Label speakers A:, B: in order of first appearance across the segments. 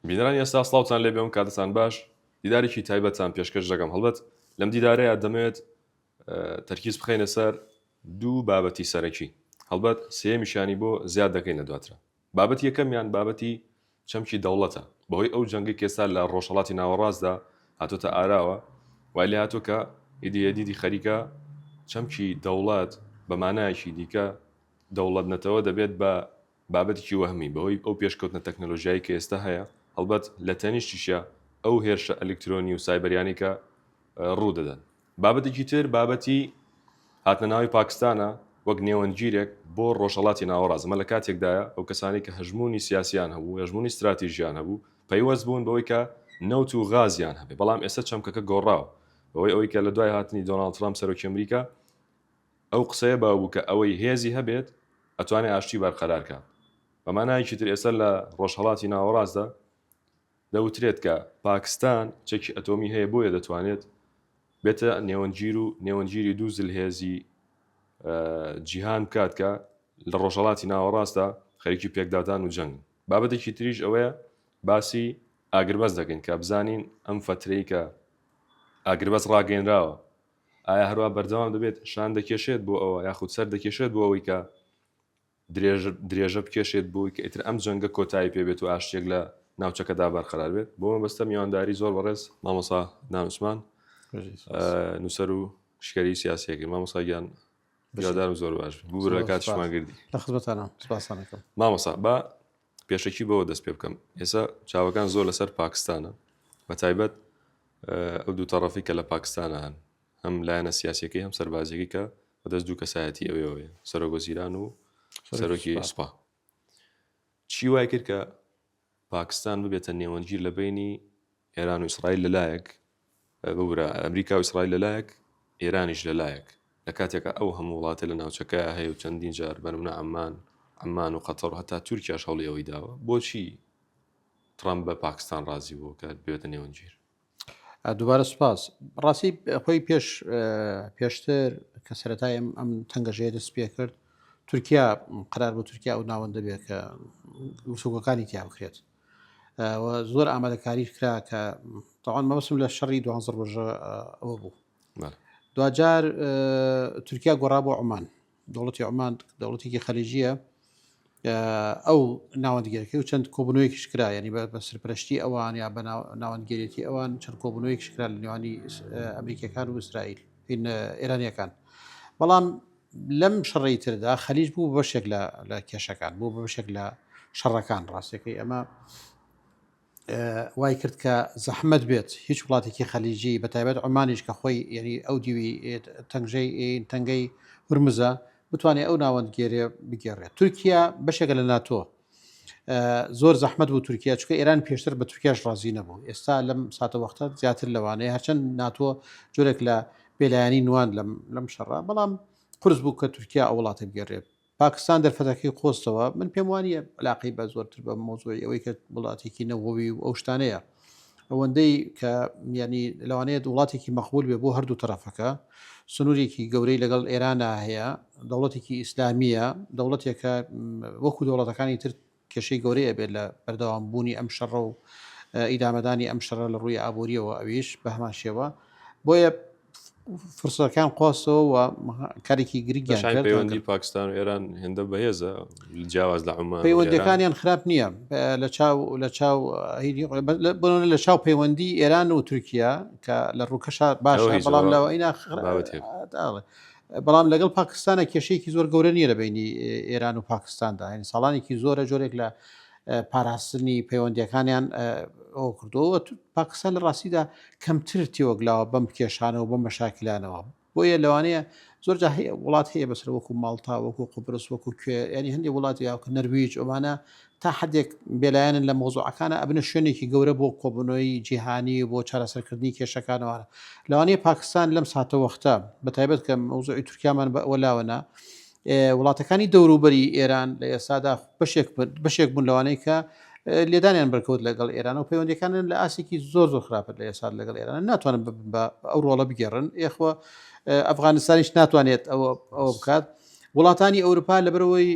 A: بینەرانی ئێستا سڵاوتان لێبێ و کاتتان باش دیدارێکی تایبەتتان پێشکەش دەکەم هەڵبەت لەم دیدارەیە دەمەوێت تەرکیز بخەینە سەر دوو بابەتی سەرەکی هەڵبەت سێمیشانی بۆ زیاد دەکەین لە دواترە بابەت یەکەمیان بابەتی چەمکی دەوڵەتە بەهۆی ئەو جەنگی کێستا لە ڕۆژهڵاتی ناوەڕاستدا هاتۆتە ئاراوە وای لە هاتۆ کە ئیدی یەدیدی خەریکە چەمکی دەوڵەت بە مانایەکی دیکە دەوڵەت نەتەوە دەبێت بە بابەتێکی وەهمی، بەهۆی ئەو پێشکەوتنە تەکنەلۆژیایەی کە ئێستا هەیە، هەڵبەت لە تەنیشتیشیا ئەو هێرشە ئەلیکترۆنی و سایبەریانەی کە ڕوو دەدەن. بابەتێکی تر، بابەتی هاتنە ناوی پاکستانە وەک نێوەندگیرێک بۆ ڕۆژهەڵاتی ناوەڕاست، ئەمە لە کاتێکدایە ئەو کەسانەی کە هەژموونی سیاسییان هەبوو، هەژموونی ستراتیژییان هەبوو، پەیوەست بوون بەوەی کە نەوت و غازیان هەبێت، بەڵام ئێستا چەمکەکە گۆڕاوە بەهۆی ئەوەی کە لە دوای هاتنی دۆناڵد ترەمپ سەرۆکی ئەمریکا، ئەو قسەیە باو بوو کە ئەوەی هێزی هەبێت ئەتوانێ ئاشتی بەرقەرار کات. بە مانایەکی تر ئێستا لە ڕۆژهەڵاتی ناوەڕاستدا دەوترێت کە پاکستان چەکی ئەتۆمی هەیە بۆیە دەتوانێت بێتە نێوەندگیر و نێوەندگیری دوو زلهێزی جیهان بکات کە لە ڕۆژهەڵاتی ناوەڕاستدا خەریکی پێکدادان و جەنگن. بابەتێکی تریش ئەوەیە باسی ئاگربەست دەکەین کە بزانین ئەم فەترەی کە ئاگربەست ڕاگەیەنراوە ئایا هەروا بەردەوام دەبێت شان دەکێشێت بۆ ئەوە یاخود سەر دەکێشێت بۆ ئەوەی کە درێژ درێژە بکێشێت بۆی کە ئیتر ئەم جەنگە کۆتایی پێ بێت و ئاشتیەک لە ناوچەکەدا بەرقەرار بێت بۆ مەبەستە میوانداری زۆر بەڕێز مامۆسا دان عوسمان نووسەر و شکەری سیاسیەکەی مامۆسا گیان بژادارم زۆر باش بوو لە کاتشمان گردی لە خزمەتانە
B: سپاسانەکەم مامۆسا بە
A: پێشەکی بەوە دەست پێ بکەم ئێسا چاوەکان زۆر لەسەر پاکستانە بە تایبەت ئەو دوو تەڕەفی کە لە پاکستانە هەن هەم لایەنە سیاسەکەی هەم سەربازیەکە کە بەدەست دوو کەسایەتی ئەوێەوەێ سەرۆگۆزیران و سەرۆکی سوپا چی وای کرد کە پاکستان ببێتە نێوەندگیر لە بینی ئێران و ئیسرائیل لەلایەک ببورە ئەمریکا و ئیسرائیل لە لایەک، ئێرانیش لە لایەک، لە کاتێکا ئەو هەموو وڵاتە لە ناوچەکەیا هەیە و چەندین جار بە نمونە عەممان، عمان، و قەتەڕ و هەتا تورکیاش هەوڵی ئەوەی داوە، بۆچی تڕەمپ بە پاکستان ڕازی بووە کە بێتە نێوەندگیر؟ دووبارە
B: سوپاس ڕاستی خۆی پێش پێشتر کە سەرەتای ئەم ئەم تەنگەژەیە دەست پێ کرد تورکیا قرار بۆ تورکیا ئەو ناوەندە بێت کە مسوگەکانی تیا بکرێت و زۆر ئامادەکاریش کرا کە تاوان مەوسم لە شەڕی دوانزە ڕۆژە ئەوە بوو دوجار تورکیا گۆڕا بۆ عمان دەوڵەتی عمان دەوڵەتێکی خەلیجیە ئەو ناوەندگەرەکەی و چەند کۆبنەوەی شکرا ینی بە سەرپەرشتی ئەوان یا بە ناوەندگەرێتی ئەوان چەند کۆبنەوەی شکرا لە نێوانی ئەمریکەکان و ئیسرائیل ئێرانیەکان بەڵام لەم شەڕەی تردا خەلیج بوو بە بەشێک لە کێشەکان بوو بە بەشێک لە شەڕەکان ڕاستەکەی ئەمە وای کرد کە زەحمت بێت هیچ وڵاتێکی خەلیجی بە تایبەت ئەمانیش کە خۆی یعنی ئەو دیوی تەنگژەی تەنگەی هورمزە بتوانێت ئەو ناوەندگێرێ بگێڕێت تورکیا بەشێکە لە ناتۆ زۆر زەحمەت بوو تورکیا چکە ئێران پێشتر بە تورکیاش ڕازی نەبوو ئێستا لەم ساتەوەختە زیاتر لەوانەیە هەرچەند ناتۆ جۆرێک لە بێلایانی نوان لەم شەڕە بەڵام قرس بوو کە تورکیا ئەو وڵاتە گەرێت پاکستان دەرفەتەکەی قۆستەوە من پێم وانە علاقی بە زۆرتر بە مۆزۆی ئەوەی کە وڵاتێکی نەوەوی و ئەو شتانەیە ئەوەندەی کە یعنی لەوانەیە وڵاتێکی مەقبول بێ بۆ هەردوو تەرەفەکە سنوورێکی گەورەی لەگەڵ ئێرانا هەیە دەوڵەتێکی ئیسلامیە دەوڵەتێکە وەکو دەوڵەتەکانی تر کێشەی گەورەیە بێت لە بەردەوام بوونی ئەم شەڕە و ئیدامەدانی ئەم شەڕە لە ڕووی ئابوووریەوە ئەویش بە هەمان شێوە بۆیە فرسەکان قۆسەوە و کارێکی گرنگ شای پەیوەندی پاکستان و ئێران
A: هێندە بەهێزە جیاواز لە عمان پەیوەندەکانیان خراپ نییە
B: لە چاو لە چاو بۆنە لە چاو پەیوەندی ئێران و تورکیا کە لە ڕووکەشا باش بەڵام لەوە ئینا بەڵام لەگەڵ پاکستانە کێشەیەکی زۆر گەورە نیە لە بینی ئێران و پاکستاندا هەین ساڵانێکی زۆرە جۆرێک لە پاراستنی پەیوەندیەکانیان ئەوکردووە و پاکستان لە ڕاستیدا کەمتر تێوەگلاوە بەم کێشانە و بەم مەشاکلانەوە بۆیە لەوانەیە زۆر جا هەیە وڵات هەیە بەسەر وەکو ماڵتا وەکو قوبرس وەکو کوێ ینی هەندی وڵاتی یاوکە نەرویج ئەمانە تا حدێک بێلایەنن لە مۆزوعەکانە ئەبنە شوێنێکی گەورە بۆ کۆبنەوەی جیهانی بۆ چارەسەرکردنی کێشەکانەوە لەوانەیە پاکستان لەم ساتەوەختە بە تایبەت کە مەوزوعی تورکیامان بە ئەوە لاوەنا وڵاتەکانی دەوروبەری ئێران لە ئێستادا بەشێک بوون لەوانەی کە لێدانیان بەرکەوت لەگەڵ ئێران و پەیوەندەکانن لە ئاسێکی زۆر زۆر خراپەت لە ئێستا لەگەڵ ئێران ناتوانن ببن بە ئەو ڕۆڵە بگەڕن ئێخوە ئەفغانستانیش ناتوانێت ئەوە ئەوە بکات وڵاتانی ئەوروپا لەبەرەوەی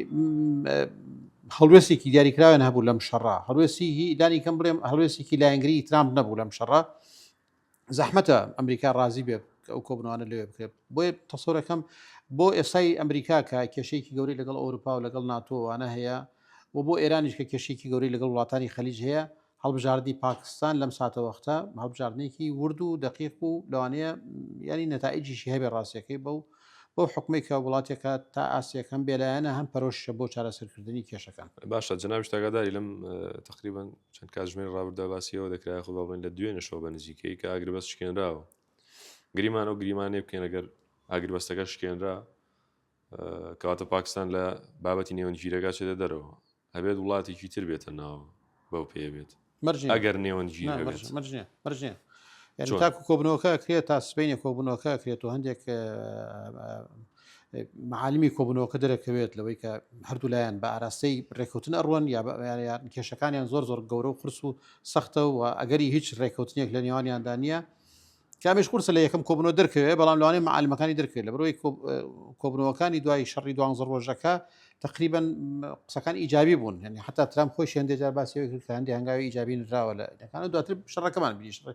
B: هەڵوێستێکی دیاریکراوێن هەبوو لەم شەڕا هەڵوێستی دانی کەم بڵێم هەڵوێستێکی لایەنگری ترامپ نەبوو لەم شەڕا زەحمەتە ئەمریکا ڕازی بێت کە ئەو کۆبنەوانە لەوێ بکرێت بۆیە تەسۆرەکەم بۆ ئێستای ئەمریکا کە کێشەیەکی گەوری لەگەڵ ئەوروپا و لەگەڵ ناتۆوانە هەیە و بۆ ئێرانیش کە کێشێکی گەوری لەگەڵ وڵاتانی خەلیج هەیە هەڵبژاردی پاکستان لەم ساتەوەختە هەڵبژاردنێکی ورد و دقیق و لەوانەیە ینی نەتائجیشی هەبێ ڕاستەکەی بەو بەو حوکمەی کە وڵاتێکە تا ئاستێک هەم بێلایەنە هەم پەرۆشە بۆ چارەسەرکردنی کێشەکان باشە جناویش تاگاداری
A: لەم تقریبان چەند کاتژمێر ڕابردا باسیەوە دەکرای خۆ بڵێن لە دوێنێشەوە بە نزیکەی کە ئاگربەست شکێنراوە گریمان و گریمانێ بکەین ئەگەر ئاگربەستەکە شکێنرا کەواتە پاکستان لە بابەتی نێوەنگیرەکە چێتە دەرەوە ئەبێت وڵاتێکی تر بێتە ناو بەو پێیە بێت مەرج نییە. ئەگەر نێوەندگیر نا، هەبێت. مەرج مەرج نییە
B: مەرج نییە یعنی چۆن؟ تاکو کۆبوونەوەکە ئەکرێت تا سبەینێ کۆبوونەوەکە ئەکرێت و هەندێک ئە، ئە، معالمی کۆبوونەوەکە دەرەکەوێت لەوەی کە هەردوو لایەن بە ئاراستەی رێککەوتن ئەڕوەن یا بە یان یان کێشەکانیان زۆر زۆر گەورە و قورس و سەختە و ئەگەری هیچ رێککەوتنێک لە نێوانیاندا نییە کە ئەمەیش قورسە لە یەکەم کۆبوونەوە دەرکەوێت، بەڵام لەوانەیە مەعالیمەکانی دەرکەوێت، لەبەرئەوەی کۆبوونەوەکانی دوای شەڕی دوانزە ڕۆژەکە تەقریبەن قسەکان ئیجابی بوون، یانی حتا ترام خۆشی هەندێک جار باسی ئەوەی کرد کە هەندێک هەنگاوی ئیجابی نراوە لە یەکانە، دواتر شەڕەکەمان بینی شەڕ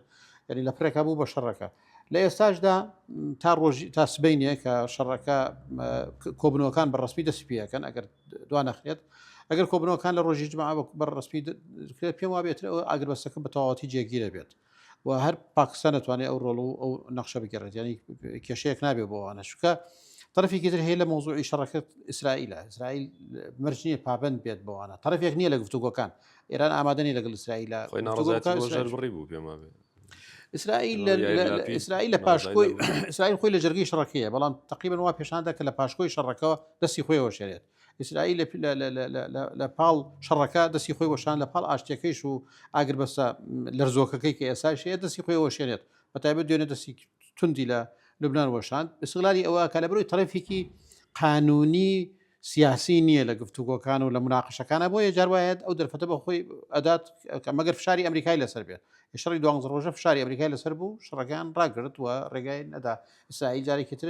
B: یانی لە پرێکا بوو بە شەڕەکە. لە ئێستاشدا تا ڕۆژی تا سبینێ کە شەڕەکە کۆبنەوەکان بە ڕسمی دەستی پێەکەن ئەگەر دوا نەخرێت ئەگەر کۆبنەوەکان لە ڕۆژی جمع بە ڕسمی پێم وابێت ئەگەر بەسەکە بە تەواتی جێگیرە بێت و هەر پاکستان دەتوانێت ئەو ڕۆڵ و ئەو نەخشە بگەڕێت ینی کێشەیەک نابێ بۆوانە شکە طرفێکی تر هەیە لە مۆزوعی شەڕەکەت ئیسرائیلە ئیسرائیل مەرج نییە پابند بێت بۆوانە طرفێک نییە لە گفتوگۆکان ئێران ئامادەنی لەگەڵ ئیسرائیلە بڕی
A: بوو پێما بێت ئیسرائیل
B: ئیسرائیل لە پاشکۆی ئیسرائیل خۆی لە جەرگی شەڕەکەیە بەڵام تقریبن وا پێشاندا کە لە پاشکۆی شەڕەکەەوە دەستی خۆیەوە شێرێت ئیسرائیل لە لە- لە- لە- لە- لە- لە پاڵ شەڕەکە دەستی خۆی وەشان لە پاڵ ئاشتیەکەیش و ئاگربەستە لەرزۆکەکەی کە ئێساش هەیە دەستی خۆی وەشێنێت بە تایبەت دوێنێ دەستی توندی لە لوبنان وەشاند ئیسغلالی ئەوە کە لە بەرەوەی تەرەفێکی قانونی سیاسی نییە لە گفتوگۆکان و لە مناقشەکانە بۆیە جار وایەت ئەو دەرفەتە بە خۆی ئەدات کە مەگەر فشاری ئەمریکای لەسەر بێت شەڕی دوانزە ڕۆژە فشاری ئەمریکای لەسەر بوو شەڕەکان ڕاگرت و ڕێگای نەدا ئیسرائیل جارێکی تر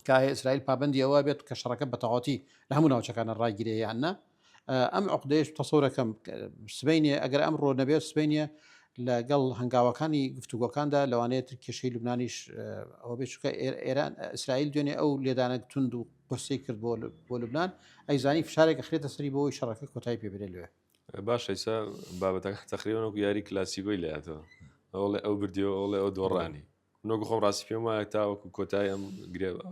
B: تکایە ئیسرائیل پابەندی ئەوە بێت کە شەڕەکە بەتەواوەتی لە هەموو ناوچەکانە ڕاگیرێ یان نا ئەم عقدەیەش تەسەورەکەم سبینێ ئەگەر ئەم ڕۆ نەبێت سبینێ لەگەڵ هەنگاوەکانی گفتوگۆکاندا لەوانەیە تر کێشەی لوبنانیش ئەوە بێ چکە ئێران ئیسرائیل دوێنێ ئەو لێدانە تونند و قرسی کرد بۆ بۆ لوبناان ئەیزانی فشارێک خرێتە سەری بۆی شەڕەکە کۆتای پێ بێ لێ باشە ئیسا
A: بابەتەکە تەخریبەوەکو یاری کلاسیگۆی لاتەوە ئەوڵێ ئەو بردیەوە ئەوڵێ ئەو دۆڕانی من وەکو خۆم ڕاستی پێم وایە تاوەکو کۆتای ئەم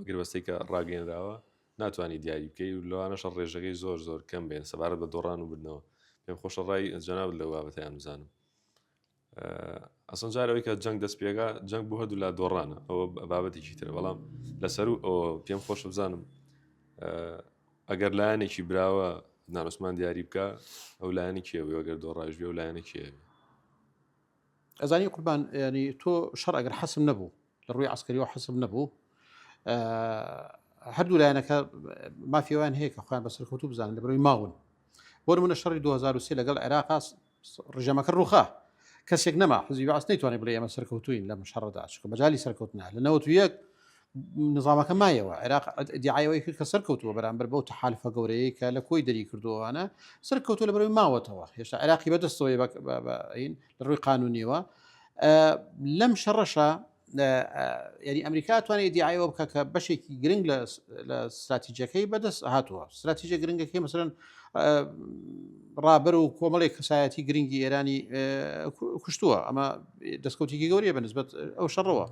A: گربەستەی کە ڕاگەێنراوە ناتوانانی دیاری بکەی و لەوانەشە ڕێژەکەی زۆر زۆر کەم بێن سەبارەت بە دۆڕان و بردنەوە پێم خۆشە ڕای جەناب لە بابەتیان بزانم ئەسن جارەوەی کە جەنگ دەست پێگا جەنگ بۆ هەردوو لا دۆڕانە ئەوە بابەتێکی تر بەڵام لەسەر و ئەوە پێم خۆش بزانم ئەگەر لایەنێکی براوە نانوسمان دیاری بکە ئەو لایەنی کێوەگەر دۆڕایش بێ و لایەنە کێوێ
B: ئەزانی قوربان ینی تۆ شەڕ ئەگەر حەسم نەبوو لە ڕووی عسکەریەوە حەسم نەبوو هەردوو لایەنەکە مافیوان هەیە کە خۆیان بەسەر کەوتو بزانن لە بەرەوەی ماون بۆ منە شەڕی 2023 لەگەڵ عێراقا ڕژەمەکە ڕوخا کەسێک نەما حزی باس نەیتوانانی بڵێ ئەمە سەرکەوتوین لەم شەڕدا چکە بەجای سەرکەوتنا لە 91 نظامەکە مایەوە عێراق دیعایەوەی کرد کە سەرکەوتووە بەرامبەر بەو تحالفە گەورەیە کە لە کۆی دەری کردووانە سەرکەوتو لە بەرەوەی ماوەتەوە هێشتا عراقی بەدەستەوەی بەین لە ڕووی قانونیەوە لەم شەڕەشە یعنی ئەمریکا توانێت دیعایەوە بکە کە بەشێکی گرنگ لە استراتیجەکەی بەدەست هاتووە استراتیجە گرنگەکەی مثلەن ڕابەر و کۆمەڵێک کەسایەتی گرنگی ئێرانی کوشتووە ئەمە دەستکەوتێکی گەورەیە بە نسبت ئەو شەڕەوە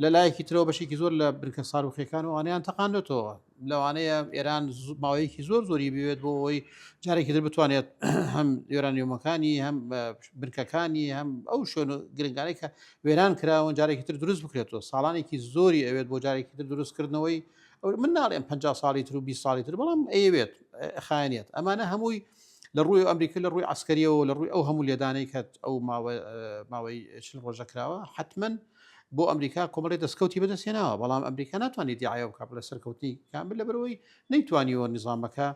B: لە لایەکی ترەوە بەشێکی زۆر لە بنکە ساروخەکان و ئەوانیان تەقاندێتەوە لەوانەیە ئێران ماوەیەکی زۆر زۆری بوێت بۆ ئەوی جارێکی در بتوانێت هەم یۆرانیۆمەکانی هەم بنکەکانی هەم ئەو شوێن و گرنگانەی کە وێران کراون جارێکی تر دروست بکرێتەوە ساڵانێکی زۆری ئەوێت بۆ جارێکی تر دروستکردنەوەی من ناڵێن 50 ساڵی تر و 20 ساڵی تر بەڵام ئەیەوێت خایەنێت ئەمانە هەمووی لە ڕووی ئەمریکا لە ڕووی عسکەریەوە لە ڕووی ئەو هەموو لێدانەی کە ئەو ماوەی چل ڕۆژە کراوە حتممەن بۆ ئەمریکا کۆمەڵی دەستکەوتی بەدەستێناوە بەڵام ئەمریکا ناتوانانی دیعاە بکە بە لە سەرکەوتنی کامل لە بەرەوەی نەیتوانیوە نظامەکە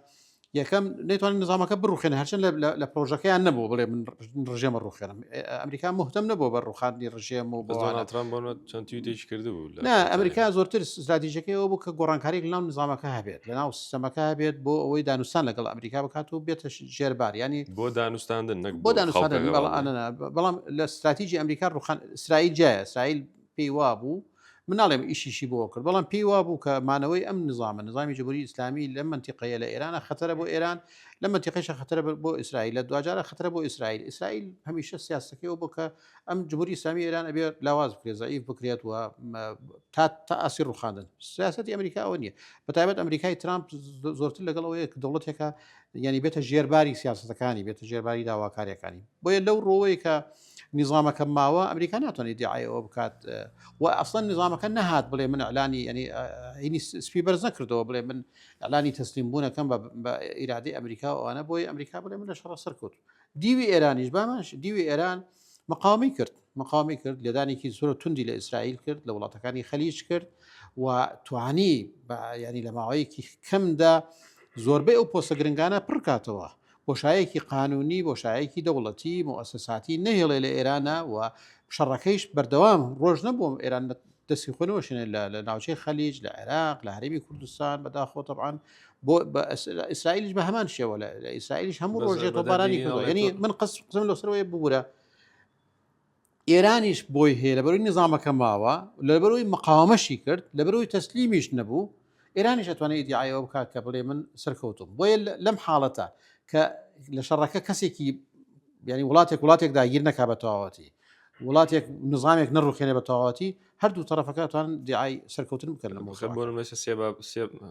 B: یەکەم نەیتوانین نظامەکە بڕوخێن هەرچەند لە پرۆژەکەیان نەبوو بڵێ من ڕژێمە ڕوخێنم ئەمریکا مهتم نەبوو بە ڕوخاندنی ڕژێم و بەڵاتران بۆ
A: چەندیش کردبوو ئەمریکا زۆرتر
B: زادیجەکەی ئەو بوو کە گۆڕانکاری لەناو نظامەکە هەبێت لەناو سیستەمەکە هەبێت بۆ ئەوەی دانوستان لەگەڵ ئەمریکا بکات و بێتە ژێربار ینی بۆ دانوستاندن
A: نەک بۆ دانوستاندن
B: بەڵام لە استراتیجی ئەمریکا ڕوخان ئیسرائیل جایە سایل پێی وا بوو من ناڵێم ئیشیشی بۆ کرد بەڵام پێی وابوو کە مانەوەی ئەم نظامە نظامی جمهوری ئیسلامی لە منتیقەیە لە ئێرانە خەتەرە بۆ ئێران لە منتیقەیشە خەتەرە بۆ ئیسرائیل لە دواجارە خەتەرە بۆ ئیسرائیل ئیسرائیل هەمیشە سیاستەکەی ئەو بۆ کە ئەم جمهوری ئیسلامی ئێران ئەبێ لاواز بکرێت زەعیف بکرێت و تا تا ئاسی ڕوخاندن سیاستی ئەمریکا ئەوە نییە بە تایبەت ئەمریکای ترامپ زۆرتر لەگەڵ ئەوەیە کە دەوڵەتێکە یعنی بێتە ژێرباری سیاستەکانی بێتە ژێرباری داواکاریەکانی بۆیە لەو ڕۆیە کە نیزامەکە ماوە ئەمریکا ناتوانێت دیعاەوە بکات و ئەفسەن نیزامەکە نەهات بڵێ من ئەلانی ینی هینی سپی بەرز نەکردەوە بڵێ من ئەلانی تەسلیم بوونەکەم بە ئیرادی ئەمریکا ئەوانە بۆی ئەمریکا بڵێ من لە شەڕ سەرکەوت دیوی ئێرانیش باماش دیوی ئێران مقاومی کرد مقاومی کرد لێدانێکی زۆر توندی لە ئیسرائیل کرد لە وڵاتەکانی خەلیج کرد و توانی ینی لە ماوەیەکی کەمدا زۆربەی ئەو پۆسە گرنگانە پڕکاتەوە بۆشایەکی قانونی، بۆشایەکی دەوڵەتی، موئەسەساتی نەهێڵێ لە ئێرانا و شەڕەکەیش بەردەوام ڕۆژ نەبووە ئێران دەستی خۆی نەوەشێنێ لە لە ناوچەی خەلیج، لە عێراق، لە هەرێمی کوردستان بەداخۆ تەبعەن بۆ بە ئەس لە ئیسرائیلیش بە هەمان شێوە لە لە ئیسرائیلیش هەموو بەس ڕۆژێ بە تۆپبارانی دەردی کردووە ئەڵێ یەنی تۆ من قەس قسەم لەوسەرەوەی ببوورە ئێرانیش بۆی هەیە لەبەرەوەی نیزامەکە ماوە لەبەرەوەی مقاومەشی کرد لەبەرەوەی تەسلیمیش نەبوو ئێرانیش ئەتوانێت ئیدعایەوە بکات کە بڵێ من سەرکەوتم بۆیە لەم حاڵەتە کە لە شەڕەکە کەسێکی ینی وڵاتێک وڵاتێک داگیر نەکا بە تەواوەتی وڵاتێک نظامێک نەڕوخێنە بە تەواوەتی هەردوو تەرەفەکە توان دیعای سەرکەوتن بکەن لە مخ بۆ مەسە سێ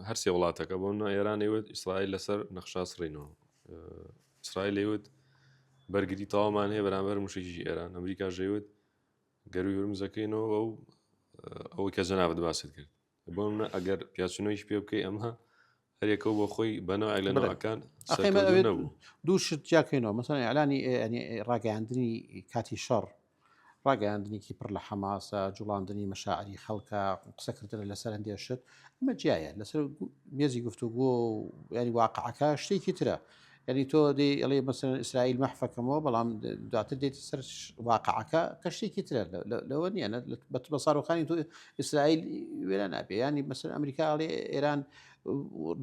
A: هەرسێ وڵاتەکە بۆ ئێرانەوە ئیسرائیل لەسەر نەخشاس ڕینەوە ئیسرائیل ئەیوت بەرگری تەوامان هەیە بەرامبەر موشەکیی ئێران، ئەمریکاش ئەیوت گەرووی هورمز دەکەینەوە و ئەوەی کە جەنابت باست کرد. بۆ نموونە ئەگەر پیاچوونەوەیش پێ بکەی ئەمە هەر یەکە و بۆ خۆی بە نەوعێک لە نەوەکان سەرکەوتوو نەبوو. ئەخەی مە ئەوێت
B: دوو شت جیا بکەینەوە، مەسەڵەن ئیعلانی یانی ڕاگەیاندنی کاتی شەڕ، ڕاگەیاندنێکی پڕ لە حەماسە، جوڵاندنی مەشاعری خەڵکە، قسەکردنە لەسەر هەندێ شت، ئەمە جیایە، لەسەر مێزی گفتوگۆ و یاری واقعەکە شتێکی ترە. یعنی تۆ دەی ئەڵێ مەسەن ئیسرائیل مەحفەکەمەوە بەڵام دواتر دێت سەر واقعەکە کە شتێکی ترە لەوە نیە بە ساڕۆخانی تۆ ئیسرائیل وێرە نابێ ینی مەسەر ئەمریکا ئەڵێ ئێران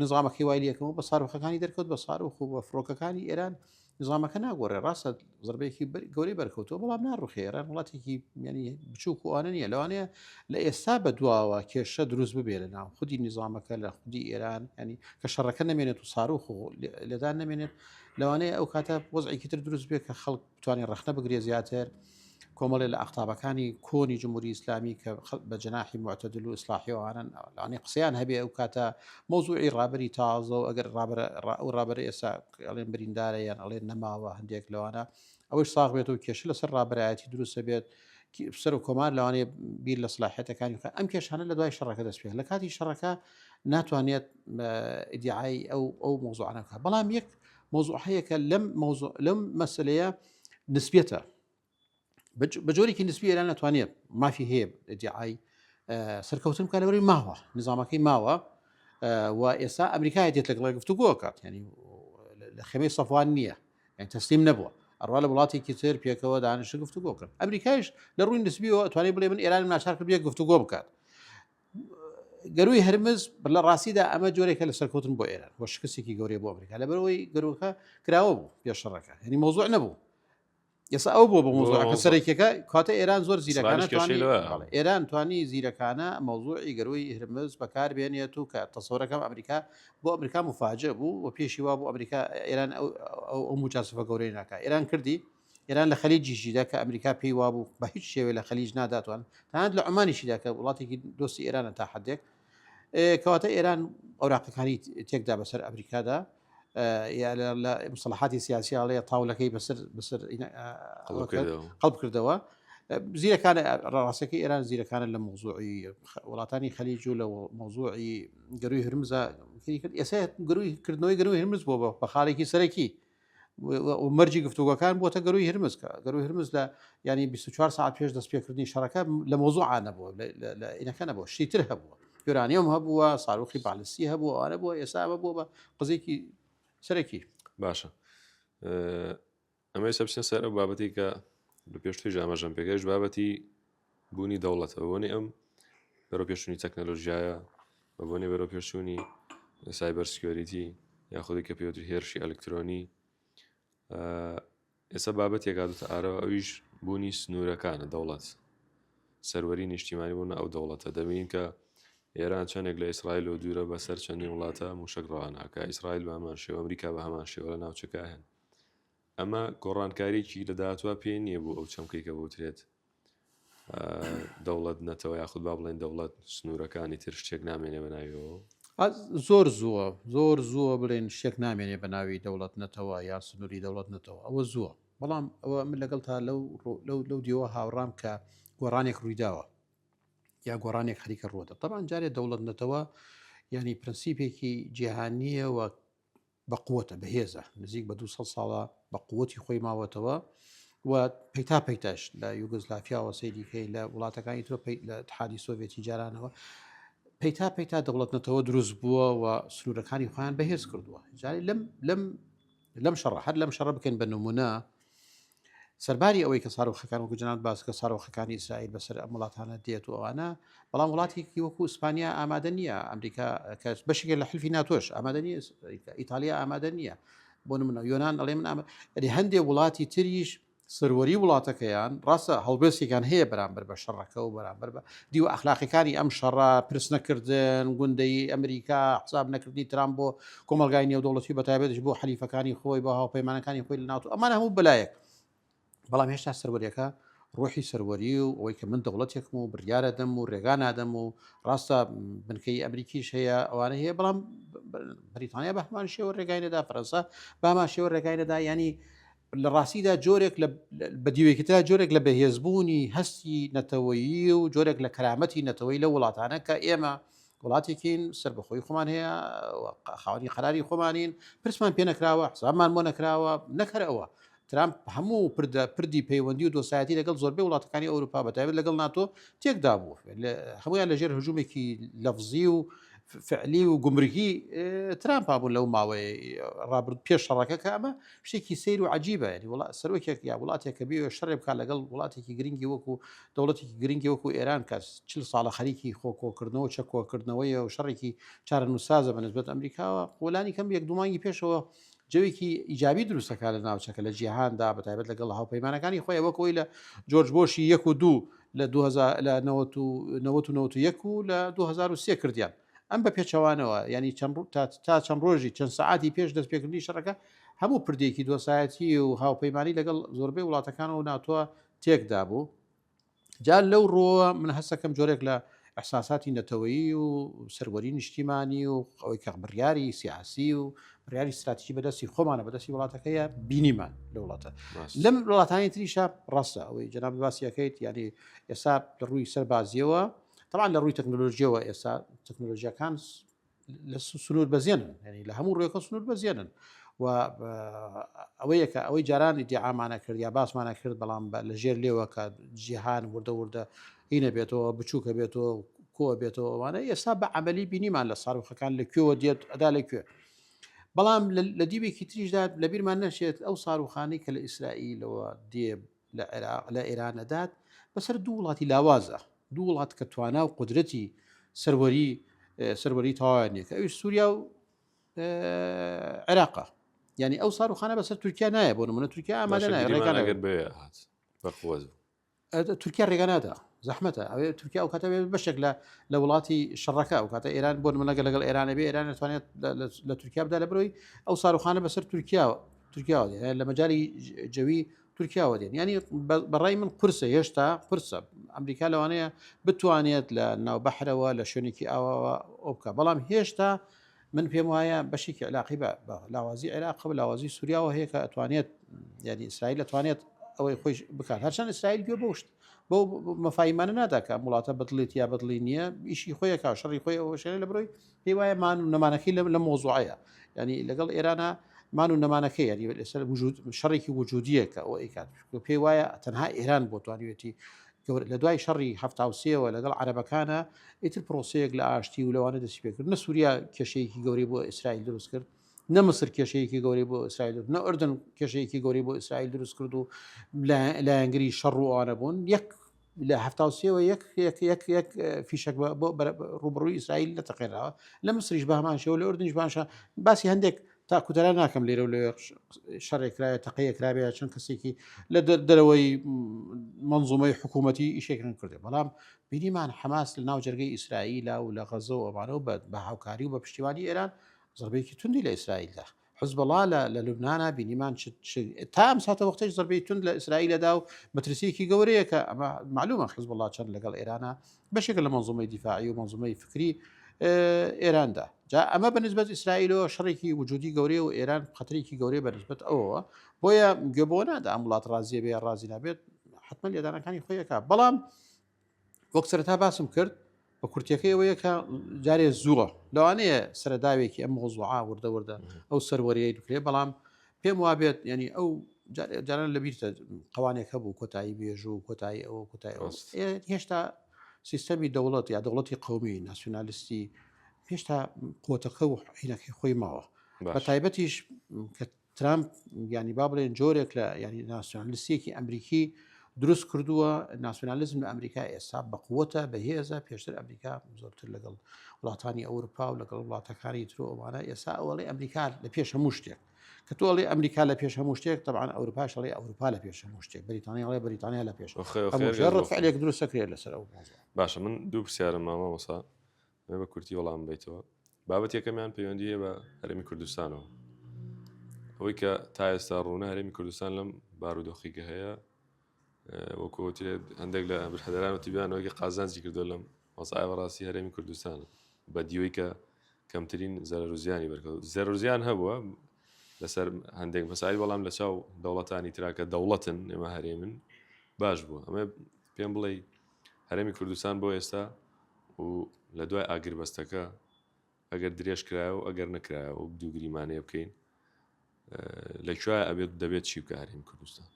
B: نظامەکەی وای لەکەمەوە بە ساڕۆخەکانی دەرکەوت بە ساروخ و بە فڕۆکەکانی ئێران. ئێران نیزامەکە ناگۆڕێ ڕاستە زربەیەکی گەورەی بەرکەوتەوە بەڵام ناڕوخێ ئێران وڵاتێکی میانی بچووک وانە نیە لەوانەیە لە ئێستا بە دواوە کێشە دروست ببێ لە ناو خودی نیزامەکە لە خودی ئێران ینی کە شەڕەکە نمێنێت و ساروخ و لەدان نمێنێت لەوانەیە ئەو کاتە وەزعێکی تر دروست بێت کە خەڵک توانێت ڕخنە بگرێ زیاتر. کۆمەڵێ لە ئاقتابەکانی کۆنی جمهوری ئیسلامی کە بە جەناحی معتەدل و ئیسلاحی ئەوانن ئەوانی قسەیان هەبێ ئەو کاتە مەوزوعی ڕابەری تازە و ئەگەر ڕابەرە ئەو ڕابەرە ئێستا ئەڵێن بریندارە یان ئەڵێن نەماوە هەندێک لەوانە ئەوەی ساغ بێت و کێشە لەسەر ڕابەرایەتی دروستە بێت سەر و کۆمار لەوانەیە بیر لە سلاحەتەکانی خۆ ئەم کێشانە لە دوای شەڕەکە دەست پێ لە کاتی شەڕەکە ناتوانێت ئیدعای ئەو ئەو مۆزوعانەکە بەڵام یەک مۆزوع هەیەکە لەم مۆزوع لەم مەسلەیە نسبیەتە بە جۆرێکی نسبی ئێران ناتوانێت مافی هەیە دیعای سەرکەوتن بکە لەوەی ماوە نظامەکەی ماوە و ئێستا ئەمریکای دێت لەگەڵی گفتوگۆکات ینی لە خێمەی سەفوان نییە یان تەسلیم نەبووە ئەڕوا لە وڵاتێکی تر پێکەوە دانیشە گفتوگۆکرد ئەمریکایش لە ڕووی نسبیەوە توانێت بڵێ من ئێران ناچار کرد بێ گفتوگۆ بکات گەروی هەرمز لە ڕاستیدا ئەمە جۆرێکە لە سەرکەوتن بۆ ئێران بۆ شکستێکی گەورەی بۆ ئەمریکا لەبەرەوەی گەرۆکە کراوە بوو پێشڕەکە هەنی مۆزوع نەبوو ئێستا ئەو بۆ بە مۆزوعەکە سەرێکەکە کاتە ئێران زۆر زیرەکانە ئێران توانی زیرەکانە مەوزوعی گەروی هرمز بەکار بێنێت و کە تەسەورەکەم ئەمریکا بۆ ئەمریکا مفاجە بوو و پێشی وا بۆ ئەمریکا ئێران ئەو موچاسفە گەورەی ناکە ئێران کردی ئێران لە خەلیجیشیدا کە ئەمریکا پێی وابوو بە هیچ شێوەیە لە خەلیج ناداتوان تەنانەت لە عومانیشیدا کە وڵاتێکی دۆستی ئێرانە تا حدێک کەواتە ئێران ئەوراقەکانی تێکدا بەسەر ئەمریکادا لە مسلحاتی سیاسیاڵەیە تاولەکەی بەسەر بەسەر قەڵب کردەوە زیرەکان ڕاستەکە ئێران زیرەکانە لە مۆزوعی وڵاتانی خەلیج و لە مۆزوعی گەروی هرمزە کرد ئێستا گروی کردنەوەی گەروی هرمز بۆ بە خاڵێکی سەرەکی مەرجی گفتوگۆکان بۆتە گەروی هرمز کە گەروی هرمز لە ینی 24 ساعت پێش دەست پێکردنی شەڕەکە لە مۆزوعانە بووە لە ئینەکەە بۆ شتیتر هەبووە یۆرانیۆم هەبووە ساروخی بالیسی هەبوو ئەوانە بووە ئێستا ئەمە بووە بە قزێکی سەرەکی باشە
A: ئەمە سەبسیە سەر ئەو بابەتی کە لە پێشتری ژامەژەم پێگەش بابەتی بوونی دەوڵەتە بە بۆنەی ئەم بەرەوپێشچوونی تەکنەلۆژیایە بە بۆنەی بەرەوپێشچوونی سایبەر سکیۆریتی یاخودی کە پێوتر هێرشی ئەلکترۆنی ئێستا بابەتێک هاتوتە ئارەوە ئەویش بوونی سنوورەکانە دەوڵەت سەروەری نیشتیمانی بوون ئەو دەوڵەتە دەبین کە ئێران چەندێک لە ئیسرائیل و دوورە بەسەر چەندین وڵاتە موشک ڕواناکە ئیسرائیل بامان شێوە ئەمریکا بە هەمان شێوە لە ناوچەکە هەن ئەمە گۆڕانکاریی لە داهاتوە پێ نییە بوو ئەو چەمکەی کە بوترێت دەوڵەت نەتەوە یاخود با بڵێن دەوڵەت سنوورەکانی تر شتێک نامێنێ بە ناویەوە زۆر زووە
B: زۆر زووە بڵێن شتێک نامێنێ بە ناوی دەوڵەت نەتەوە یا سنووری دەوڵەت نەتەوە ئەوە زووە بەڵام ئەوە من لەگەڵ تا لەو لەو دیوە هاوڕام کە گۆڕانێک ڕوویداوە یا گۆڕانێک خەریکە ڕۆدە تەبان جارێ دەوڵەت نەتەوە ینی پرەنسیپێکی جیهانیەوە بە قووەتە بەهێزە نزیک بە دو سەد ساڵە بە قووەتی خۆی ماوەتەوە و پەیتا پەیتاش لە یوگزلافیاوە سەیریکەی لە وڵاتەکانی تۆ لە حادی سۆڤێتی جارانەوە پەیتا پەیتا دەوڵەت نەتەوە دروست بووە و سنوورەکانی خۆیان بەهێز کردووە جاری لەم لەم لەم شەڕ هەر لەم شەڕ بکەین بە نمونە سەرباری ئەوەی کە سارۆخەکان وەکو جنات باسکە سارۆخەکانی ئیسرائیل بەسەر ئەم وڵاتانە دێت و ئەوانە بەڵام وڵاتێکی وەکو ئیسپانیا ئامادە نییە ئەمریکا کەس بەشێکە لە حلفی ناتۆش ئامادە نیە ئیتالیا ئامادە نییە بۆ منە یۆناان ئەڵێ من ئەری هەندێک وڵاتی تریش سەروەری وڵاتەکەیان ڕاستە هەڵبێستێکان هەیە بەرامبەر بە شەڕەکە و بەرامبەر بە دیوە ئەخلاقیەکانی ئەم شەڕە پرس نەکردن گوندەی ئەمریکا حساب نەکردنی ترام بۆ کۆمەڵگای نێودەوڵەتی بەتایبەتش بۆ حەلیفەکانی خۆی بە هاوپەیمانەکانی خۆی لە ناوتو ئەمان هەموو بەلایەک بەڵام هێشتا سەروەریەکە ڕۆحی سەروەری و ئەوەی کە من دەوڵەتێکم و بریاە دەم و ڕێگا نادەم و ڕاستە بنکەی ئەمریکیش هەیە ئەوانە هەیە بەڵام بریتانیا بە هەمان شێوە ڕێگای نەدا فەرەنسا باما شێوە ڕێگای نەدا ینی لە ڕاستیدا جۆرێک بە دیوێکترا جۆرێک لە بەهێزبوونی هەستی نەتەوەیی و جۆرێک لە کەرامەتی نەتەوەی لە وڵاتانە کە ئێمە وڵاتێکین سەربەخۆی خۆمان هەیە و خاوەنی قەراری خۆمانین پرسمان پێ نەکراوە حسابمان بۆ نەکراوە نەکەر ئەوە ترامپ هەموو پردە پردی پەیوەندی و دۆسایەتی لەگەڵ زۆربەی وڵاتەکانی ئەوروپا بەتابێت لەگەڵ ناتۆ تێکدا بوو هەمویان لەژێر هەژوومێکی لەفزی و فعلی و گمرگی ترامپ بوو لەو ماوەی ڕابرد پێش شەڕەکە کە ئەمە شتێکی سیر و عجیبە ینی وڵات سەرۆکێک یا وڵاتێک کە بێ شەڕێ بکات لەگەڵ وڵاتێکی گرنگی وەکو دەوڵەتێکی گرنگی وەکو ئێران کە چل ساڵە خەریکی خۆ کۆکردنەوە چە کۆکردنەوەیە و شەڕێکی چارەنووسازە بە نسبەت ئەمریکاوە وەلانی کەم یەک دومانگی پێشەوە جەوێکی ئیجابی دروستەکە لە ناوچەکە لە جیهاندا بە تایبەت لەگەڵ هاوپەیمانەکانی خۆی وەکەوەی لە جۆرج بۆشی یەک و دوو لە 1990 و لە 2023 کردیان ئەم بە پێچەوانەوە ینی چەند تا چەند ڕۆژی چەند سعاتی پێش دەست پێکردنی شەڕەکە هەموو پردێکی دۆسایەتی و هاوپەیمانانی لەگەڵ زۆربەی وڵاتەکان و ناتوە تێک دابوو جا لەو ڕۆوە من هەستەکەم جۆرێک لە ئەحساساتی نەتەوەیی و سەروەری نیشتیمانی و ئەوەی کە بڕیاری سیاسی و بڕیاری استراتیژی بەدەستی خۆمانە بەدەستی وڵاتەکەیە بینیمان لە وڵاتە لەم وڵاتانی تریشە ڕاستە ئەوەی جناب باسیەکەیت یعنی ئێستا لە ڕووی سەربازیەوە تەوان لە ڕووی تەکنۆلۆژیەوە ئێستا تەکنۆلۆژیەکان لە سنوور بەزیێنن ینی لە هەموو ڕێکە سنوور بەزیێنن و ئەوەیەکە ئەوەی جارانی دیعامانە کرد یا باسمانە کرد بەڵام لە ژێر لێوەکە جیهان وردە وردە هینە بێتەوە بچووکە بێتەوە کۆ بێتەوە ئەوانە ئێستا بە عملی بینیمان لە ساروخەکان لە کوێوە دێت ئەدا لە کوێ بەڵام لە دیوێکی تریشدا لە بیرمان نەشێت ئەو ساروخانی کە لە ئیسرائیلەوە دێ لە عێراق لە ئێران ئەدات بەسەر دوو وڵاتی لاوازە دوو وڵات کە توانا و قدرەتی سەروەری سەروەری تەواویان نیە کە ئەوی سووریا و عێراقا یعنی ئەو ساروخانە بەسەر تورکیا نایە بۆ نمونە تورکیا ئامادە نایە ڕێگان ئەگەر بێ هات
A: بەخۆز تورکیا
B: ڕێگەنادا زەحمەتە ئەوێ تورکیا ئەو کاتە بەشێک لە لە وڵاتی شەڕەکە ئەو کاتە ئێران بۆ منەگە لەگەڵ ئێرانە بێ ئێران دەتوانێت لە تورکیا بدا لە برۆی ئەو ساروخانە بەسەر تورکیاوە تورکیا لە مەجای جەوی تورکیاوە دێن ینی بەڕای من قرسە هێشتا قرسە ئەمریکا لەوانەیە بتوانێت لە ناو بەحرەوە لە شوێنێکی ئاواوە ئەو بکە بەڵام هێشتا من پێم وایە بەشێکی علاقی بە لاوازی عێراق و لاوازی سووریاوە هەیە کە ئەتوانێت یعنی ئیسرائیل دەتوانێت ئەوەی خۆی بکات هەرچەند ئیسرائیل گوێ بۆشت بۆ مەفاایمانە ناداکە وڵاتە بەدڵێت یا بەدڵی نییە ئیشی خۆیەکە شەڕی خۆی ئەوەشێنە لە برۆی پێی وایە مان و نەمانەکەی لەم لە مۆزوعەیە ینی لەگەڵ ئێرانە مان و نەمانەکەی ینی لەسەر وجود شەڕێکی وجودیەکە ئەو ئەیکات پێی وایە تەنها ئێران بۆ توانیوێتی لە دوای شەڕی هەفتاوسەوە لەگەڵ عربەکانە ئیتر پرۆسەیەک لە ئاشتی و لەوانە دەسی پێکرد نە سووریا کێشەیەکی گەوری بۆ ئیسرائیل دروست کرد نە مسر کێشەیەکی گەوری بۆ ئیسرائیل نە ئەردن کێشەیەکی گەوری بۆ ئیسرائیل دروست کرد و لایەنگری شەڕ و ئەوانە بوون یەک لە هەفتا و سێ وە یەک یەک یەک یەک فیشەک بە- بۆ بەرە- ڕووبەڕووی ئیسرائیل نەتەقێنراوە لە مسریش بە هەمان شێوە لە ئوردنیش باشە باسی هەندێک تاکوتەلا ناکەم لێرە و لەوێ ڕش- شەڕێک کرایە تەقەیەک کرابێ یا چەند کەسێکی لە دەر- دەرەوەی مەنزومەی حکوومەتی ئیشێکیان کردێ بەڵام بینیمان حەماس لە ناو جەرگەی ئیسرائیلا و لە غەزە و ئەمانەوە بە بە هاوکاری و بە پشتیوانی ئێران زەڕبەیەکی توندی لە ئیسرائیل دا حزبەڵا لە لە لوبنانا بینیمان تا ئەم ساتە وەختەی زەربەی تون لە ئیسرائیلەدا و مەترسیەکی گەورەیە کە ئەمە معلومە حزبڵا چەند لەگەڵ ئێرانە بەشێک لە منزومەی دیفاعی و منزومەی فکری ئێراندا جا ئەمە بەنسبەت ئیسرائیلەوە شەڕێکی وجودی گەورەیە و ئێران خەترێکی گەورەیە بەنسبەت ئەوەوە بۆیە گوێبووە نادا ئەم وڵات ڕازیە بێ ڕازی نابێت حتممە لێدانەکانی خۆیەکە بەڵام وەک سەرەتا باسم کرد بە کورتەکەی ئەوەیە کە جارێ زووە لەوانەیە سەرداوێکی ئەم مۆزوعا وردە وردە ئەو سەروەریەی دکرێ بەڵام پێم وابێت ینی ئەو جاران لەبییرتە قوانێک هەبوو کۆتایی بێژوو کۆتایی ئەوە کۆتای هێشتا سیستەمی دەوڵەت یا دەوڵەتی قومی ناسیۆنالیستی هێشتا قوتەکە و حینەکەی خۆی ماوە بە تایبەتیش کە ترامپ یانی با بڵێن جۆرێک لە یانی ناسیۆنالیستێکی ئەمریکی دروست کردووە ناسیۆنالیزم لە ئەمریکا ئێستا بەقوتە بەهێزە پێشتر ئەمریکا زۆرتر لەگەڵ وڵاتانی ئەوروپا و لەگەڵ وڵاتەکانی تر ئەوانە ئێستا ئەوڵی ئەمریکا لە پێش هەموو شتێک کە تۆڵی ئەمریکا لە پێش هەموو شتێک تەبان ئەوروپاشڵی ئەوروپا لە پێش هەموو شتێک بریتانیاڵی بریتانیا لە پێش ڕفعلێک دروستەکرێت لەسەر ئەو باشە من دوو
A: پرسیارم مامە وەسا دەمەوێت بە کورتی وەڵامم بەیتەوە. بابەتی یەکەمیان پەیوەندی هەیە بە هەرێمی کوردستانەوە. ئەوەی کە تا ئێستا ڕوونە هەرێمی کوردستان لەم بارودۆخی کە هەیە وەکو وترێت هەندێک لە برادەران و تیبیانەوەی کە قازانجی کردو لەم وەزعای بەڕاستی هەرێمی کوردستانە بە دیوەی کە کەمترین زەرەر و زیانی بەرکەوت زەرەر و زیان هەبووە لەسەر هەندێک مەساعی بەڵام لە چاو دەوڵەتانی تراکە دەوڵەتن ئێمە هەرێمن باش بووە ئەمە پێم بڵێی هەرێمی کوردستان بۆ ئێستا و لە دوای ئاگربەستەکە ئەگەر درێژ کرایە و ئەگەر نەکرایە و دوو گریمانەیە بکەین لە کوێ ئەبێت دەبێت چی بکە هەرێمی کوردستان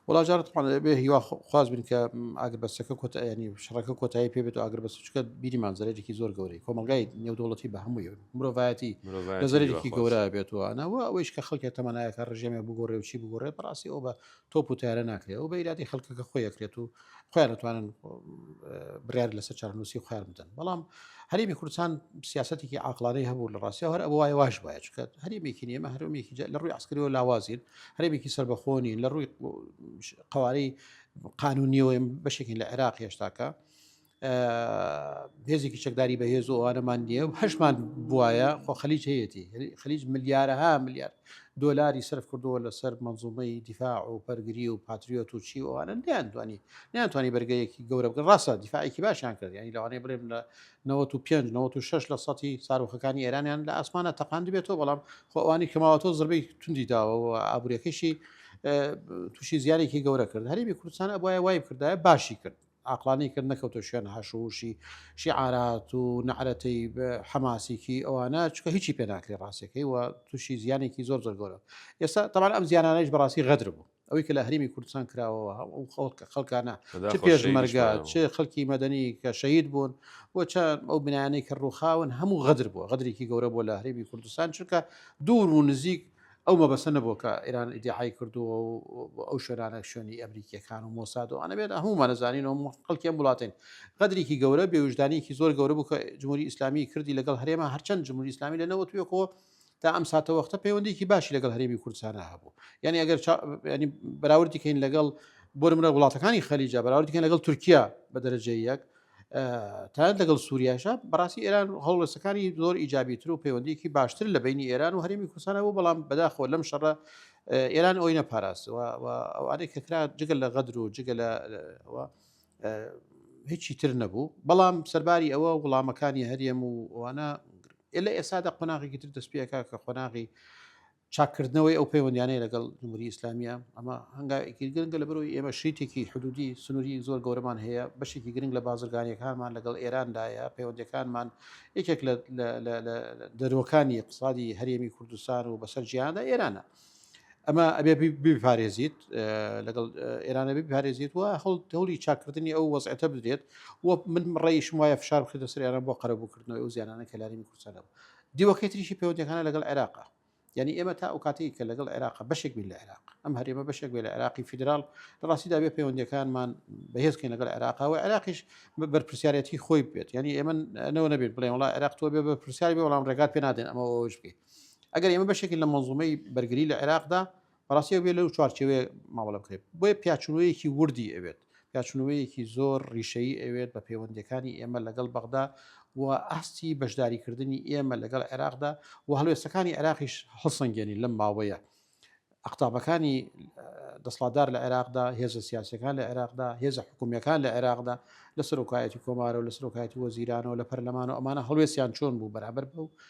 A: وڵاجارت
B: بێ هیوا خواز بن کە ئاگربەستەکە کۆتایانی شڕەکە کۆتایی پێ بێت و ئاگربەست چکە بیریمان زەرێکی زۆر گەورەی کۆمەلگای نێودوڵەتی بە هەمووی مرۆڤایەتی زەرێکی گەورە بێتوانەوە ئەوەیش کە خەڵکێک تەمەنایەکە ڕژێمێ بگۆڕێ و چی بگۆڕێ بەڕاستی ئەو بە تۆپ و تارە ناکرێت و بە ئیرادی خەڵکەکە خۆی یەکرێت و خۆیان دەتوانن برار لەسەر چارنووسی خۆیان بدەن بەڵام هەرێمی کوردستان سیاستێکی عقلانەی هەبوو لە ڕاستە هەر ئەوە وایە واش وایە چکە هەرێمێکی نیێمە هەرمێکی لە ڕووی عسکرەوە لاوازین هەرێمێکی سربەخۆنی لە ڕووی قوارەی قانونیەوەیم بەشێکی لە عێراق هێشتاکە هێزێکی چەکداری بە هێز و ئەوانەمان نییە و هەشمان بواە خۆ خەلیج هەیەی خەلیج ملیارەها ملیار دۆلاری سرف کردووە لەسەر منزومەی دیفاع و پەرگری و پاتریۆت و چی ئەوانە نیان دوانی نیانتوانی بەرگەیەکی گەورە بگە ڕاستە دیفاعێکی باشیان کرد ینی لەوانەیە بڵێم لە 95 لە سەی ساروخەکانی ئێرانیان لە ئاسمانە تەقاند بێتەوە بەڵام خۆوانی کەماوەتۆ زربەی توندی داوە و ئابوورەکەشی تووشی زیارێکی گەورە کرد هەرمی کوردستان ئەبواە وای کردایە باشی کرد عاقڵانەی کرد نەکەوتە شوێن هاشوهوشی شیعارات و نەعرەتەی حەماسیکی ئەوانە چکە هیچی پێ ناکری ڕاستەکەی و تووشی زیانێکی زۆر زۆر گەورە ئێستا تەمان ئەم زیانانەش بەڕاستی غەدر بوو ئەوەی کە لە هەرمی کوردستان کراوەوە ئەو خەڵکە خەڵکانە پێش مەرگا چ خەڵکی مەدەنی کە شەید بوون و چەند ئەو بنانەی کە ڕووخاون هەموو غەدر بووە غەدرێکی گەورە بۆ لە هەرێمی کوردستان چونکە دوور و نزیک ئەو مەبەستە نەبووە کە ئێران ئیدیعای کردووە و ئەو شوێنانە شوێنی ئەمریکییەکان و مۆساد و ئەنەبێت هەموومان دەزانین و خەڵکی ئەم وڵاتین غەدرێکی گەورە بێوژدانیکی زۆر گەورە بوو کە جمهوری ئیسلامی کردی لەگەڵ هەرێمە هەرچەند جمهوری ئیسلامی لە نەوەت وێکەوە تا ئەم ساتە وەختە پەیوەندیکی باشی لەگەڵ هەرێمی کوردستانە هەبوو یعنی ئەگەر ینی بەراوردی کەین لەگەڵ بۆ منە وڵاتەکانی خەلیجا بەراوردکەن لەگەڵ تورکیا بە دەرەجە یەک تایاد لەگەڵ سووریاشە بەڕاستی ئێران هەڵوێستەکانی زۆر ئیجابیتر و پەیوەندیکی باشتر لە بینی ئێران و هەرمی کوردستانە بۆ بەڵام بەداخۆ لەم شەڕە ئێران ئەوی نەپاراستەوە ئەوانەی کەکرا جگە لە غەدر و جگە لە هیچی تر نەبوو بەڵام سەرباری ئەوە وڵامەکانی هەرێم و ئەوانە لە ئێسادا قۆناغێکی تر دەستپێکە کە قۆناغی چاککردنەوەی ئەو پەیوەندیانەی لەگەڵ جمهوری ئیسلامیە ئەمە هەنگاوێکی گرنگە لە بەرەوەی ئێمە شیتێکی حدودی سنووری زۆر گەورەمان هەیە بەشێکی گرنگ لە بازرگانیەکانمان لەگەڵ ئێراندایە پەیوەندەکانمان یەکێک لە دەرۆکانی اقتصادی هەرێمی کوردستان و بەسەر جیاندا ئێرانە ئەمە ئەبێ بپارێزیت لەگەڵ ئێرانە بپارێزیت وە هەڵ هەولی چاکردنی ئەو وەزعەتە بدرێت و من ڕێیشم وایە فشار بخێتە سریانە بۆ قەرەبووکردنەوەی و زیانانە کەلارینی کوردستانەوە دیوەکەی تریشی پەیوەندیەکانە لەگەڵ عێراقە یانی ئێمە تا ئەو کاتێک کە لەگەڵ عێراق بەشێک بین لە عێراق ئەم هەرێمە بەشێک بێ لە عێراقی فیدرال لە ڕاستیدا بێ پەیوەندەکانمان بەهێزکەین لەگەڵ عێراقەوە عێراقیش بەرپسیارەتی خۆی بێت ینی ئێمە نەوە نەبێت بڵێ وڵا عێراق تۆ بێ بە پرسیاری بێ وەڵام ڕێگات پێ نادێن ئەمەوەش بکەیت ئەگەر ئێمە بەشێکی لە مەزومەی بەرگری لە عێراقدا بەڕاستی ئەبێ لەو چوارچێوەیە مامەڵە بکرێت بۆیە پیاچوونەوەیەکی وردی ئەوێت پیاچوونەوەیەکی زۆر ڕیشەیی ئەوێت بە پەیوەندەکانی ئێمە لەگەڵ بەغدا و ئاستی بەشداریکردنی ئێمە لەگەڵ عێراقدا و هەڵوێستەکانی عێراقیش هەڵسەنگێنی لەم ماوەیە ئەقتابەکانی دەسڵاتدار لە عێراقدا هێزە سیاسەکان لە عێراقدا هێزە حکومیەکان لە عێراقدا لە سەرۆکایەتی کۆمارە و لە سەرۆکایەتی وەزیرانەوە لە پەرلەمانەوە ئەمانە هەڵوێستیان چۆن بوو بەرابەر بە و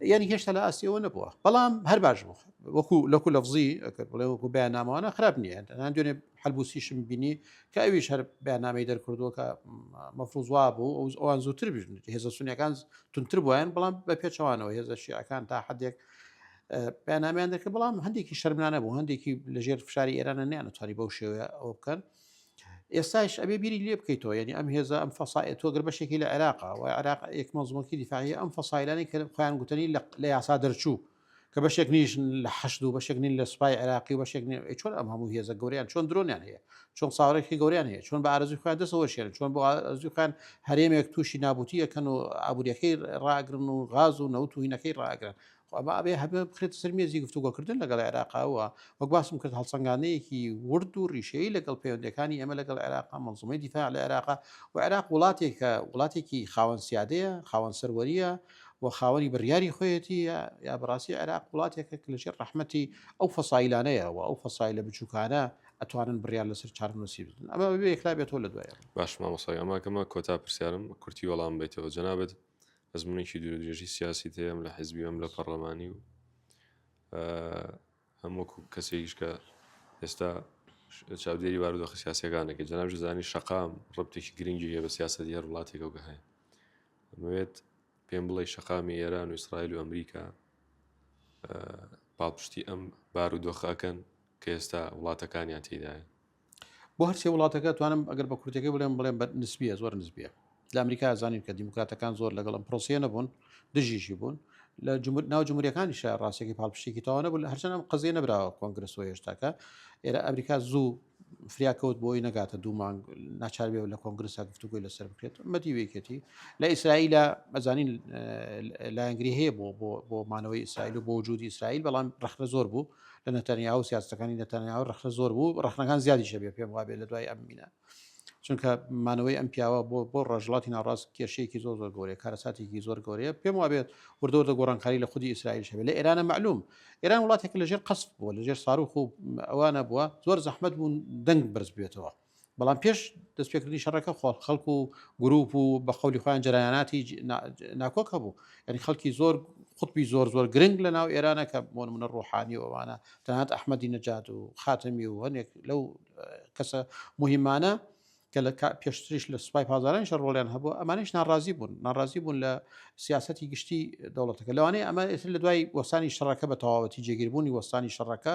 B: یعنی هێشتا لە ئاستیەوە نەبووە بەڵام هەر باش بوو وەکو لەکو لەفزی ئەکرد بڵێ وەکو بە نامەوانە خراپ نییە هەندێن دوێنێ حلبوسیشم بینی کە ئەویش هەر بەنامەی دەرکردووە کە مەفروزوا بوو ئەو ئەوان زووتر بژن هێزە سونیەکان تونتر بوویان بەڵام بە پێچەوانەوە هێزە شیعەکان تا حدێک پێنامیان دەکرد بەڵام هەندێکی شەرمانە بوو هەندێکی لەژێر فشاری ئێرانە نیان توانی بەو شێوەیە ئەو بکەن ئێستایش ئەبێ بیری لێ بکەیتەوە یعنی ئەم هێزە ئەم فەسایە تۆ گەر بەشێکی لە عێراقا و عێراق ئێک مەزمۆکی دیفاعی ئەم فەسایلانی کە خۆیان گوتنی لە یاسا دەرچوو کە بەشێک نیش لە حەشد و بەشێک نین لە سوپای عێراقی و بەشێک چۆن ئەم هەموو هێزە گەوریان چۆن درۆنیان هەیە چۆن ساوارێکی گەوریان هەیە چۆن بە ئارزی خۆیان دەسەوە شێن چۆن بۆ ئەزی خۆیان هەرێمێک تووشی نابوتی ئەەکەن و ئابوووریەکەی ڕاگرن و غاز و نەوت و هینەکەی ڕاگرن خۆ با ئەبێ هەمە بخرێتە سەر مێزی گفتوگۆکردن لەگەڵ عێراقا و وەک باسم کرد هەڵسەنگاندنێکی ورد و ڕیشەیی لەگەڵ پەیوەندییەکانی ئێمە لەگەڵ عێراقا، مەنزومەی دیفاع لە عێراقا و عێراق وڵاتێکە وڵاتێکی خاوەن سیادەیە، خاوەن سەروەرییە و خاوەنی بڕیاری خۆیەتی یا بە ڕاستی عێراق وڵاتێکە کە لەژێر ڕەحمەتی ئەو فەسایلانەیە و ئەو فەسایلە بچووکانە ئەتوانن بڕیار لەسەر چارەنووسی بدن. ئەمە بەبێ یەکلا بێتەوە لە دوایەوە. باش مامۆستا گیان ماکەمە
A: کۆتا پرسیارم کورتی وەڵامم بەیتەوە جەنابت ئەزمونێکی دوور درێژی سیاسیت هەیە لە حیزبی ئەم لە پەڕلەمانی و هەمووکو کەسێکیش کە ئێستا چاودێری بارودۆخە سیاسەکانەکە جناب زانی شقام ڕبتێکی گرنگی هەیە بە سیاست هەر وڵاتێکەوە هەیە ئەمەوێت پێم بڵێ شقامی ئێران و ئیسرائیل و ئەمریکا پاڵپشتی ئەم بارودۆخەکەن کە ئێستا وڵاتەکانیان تێدایە بۆ هەرسێ
B: وڵاتەکە توانم ئەگەر بە کورتەکەی بڵێم بڵێم بە نسبیە زۆر نسبیە لە ئەمریکا زانین کە دیموکراتەکان زۆر لەگەڵ ئەم پرۆسیە نەبوون دژیشی بوون لە جمهور ناو جمهوریەکانی شە ڕاستێکی پاڵپشتێکی تاوانە بوو هەرچەند ئەم قزیە نەبراوە کۆنگرس و هێشتاکە ئێرە ئەمریکا زوو فریاکەوت بۆی نەگاتە دوو مانگ ناچار بێ لە کۆنگرسا گفتوگوی لەسەر بکرێت مەدی وێکێتی لە ئیسرائیلە ئەزانین لایەنگری هەیە بۆ بۆ بۆ مانەوەی ئیسرائیل و بۆ وجودی ئیسرائیل بەڵام ڕخنە زۆر بوو لە نەتەنیاهۆ و سیاسەتەکانی نەتەنیاهۆ ڕەخنە زۆر بوو، ڕەخنەکان زیادیش دەبێت پێم وابێت لە دوای ئەم مینە. چونکە مانەوەی ئەم پیاوە بۆ بۆ ڕۆژهەڵاتی ناوڕاست کێشەیەکی زۆر زۆر گەورەیە، کارەساتێکی زۆر گەورەیە، پێم وابێت وردە وردە گۆڕانکاری لە خودی ئیسرائیلش هەبێت، لە ئێرانە مەعلوم. ئێران وڵاتێکە لەژێر قەسف بووە، لەژێر ساروخ و ئەوانە بووە، زۆر زەحمەت بوو دەنگ بەرز ببێتەوە. بەڵام پێش دەستپێکردنی شەڕەکە خۆڵ خەڵک و گروپ و بە قولی خۆیان جرایاناتی ناکۆک هەبوو یعنی خەڵکی زۆر قوتبی زۆر زۆر گرنگ لە ناو ئێرانە کە بۆن منە ڕۆحانی ووانە تەنات ئەحمەدی نەجات و خاتەمی و هەنێک لەو کەسە مهمانە کە لە پێشتریش لە سوپای پازارانش ڕۆڵیان هەبوو ئەمانش ناڕازی بوون ناڕازی بوون لە سیاستی گشتی دەوڵەتەکە لەوانەیە ئەمە ئێتر لە دوای وەسانی شەڕەکە بە تەواوەتی جێگیربوونی وەستانی شەڕەکە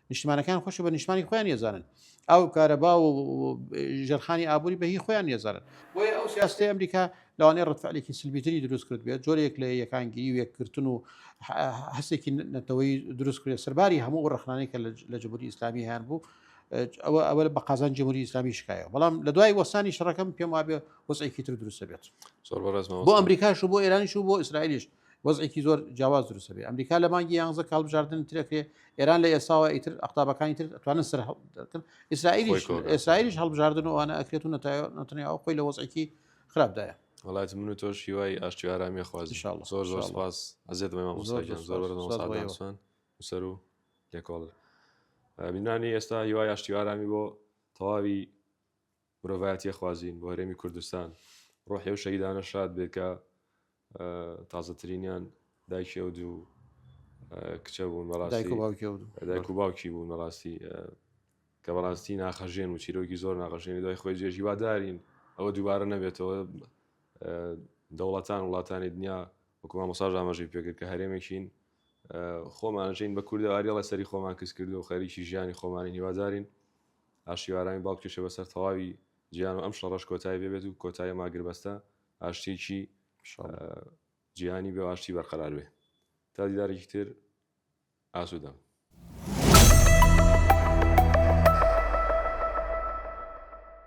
B: نیشتمانەکان خۆش بە نیشتمانی خۆیان یەزانن ئەو کارەبا و ژەرخانی ئابووری بە هی خۆیان یەزانن بۆیە ئەو سیاستی ئەمریکا لەوانەیە ڕتفعلێکی سلبیتری دروست کرد بێت جۆرێک لە یەکانگیری و یەکگرتن و هەستێکی نەتەوەی دروست کرێت سەرباری هەموو ڕخنانەی کە لە جمهوری ئیسلامی هەیان بوو ئەوە ئەوە بە قازان جمهوری ئیسلامی شکایە بەڵام لە دوای وەسانی شەڕەکەم پێم وابێ وەسێکی تر دروستە بێت بۆ ئەمریکاش و بۆ ئێرانیش و بۆ ئیسرائیلیش وەزعێکی زۆر جیاواز دروست دەبێت ئەمریکا لە مانگی یانزە کاڵ بژاردن ترەکرێ ئێران لە ئێساوە ئیتر ئەقتابەکانی تر ئەتوانن سەر هەڵکرد ئیسرائیلیش ئێسرائیلیش هەڵبژاردن و ئەوانە ئەکرێت و نەتەنیا ئەو خۆی لە وەزعێکی خراپدایە وڵات من و تۆش
A: هیوای ئاشتی ئارامی خوازی زۆر زۆر سپاس ئەزێت مەمە مۆساگیان زۆر بەرەوەسان وسەر و لێکۆڵ بینانی ئێستا هیوای ئاشتی ئارامی بۆ تەواوی مرۆڤایەتیە خوازین بۆ هەرێمی کوردستان ڕۆحی ئەو شەهیدانە شاد بێ کە تازەترینیان دایکی ئەو دوو کچە بوون بەڕاستی و باوکی بوون بەڕاستی کە بەڕاستی ناخەژێن و چیرۆکی زۆر ناخەژێنی دوای خۆی جێژی وادارین ئەوە دووبارە نەبێتەوە دەوڵەتان وڵاتانی دنیا وەکوما مەساژ ئاماژەی پێکرد کە هەرێمێکین خۆمان ئەژین بە کوردە ئاریاڵە سەری خۆمان کز کردو خەریکی ژیانی خۆمانی هیوادارین ئاشتی ئارامی باڵ بکێشێ بەسەر تەواوی جیان و ئەم شەڕەش کۆتایی پێ بێت و کۆتاییم ئاگربەستە ئاشتیەکی جیهانی بێ و ئاشتی بەرقەرار بێ تا دیدارێکی تر ئاسوودەم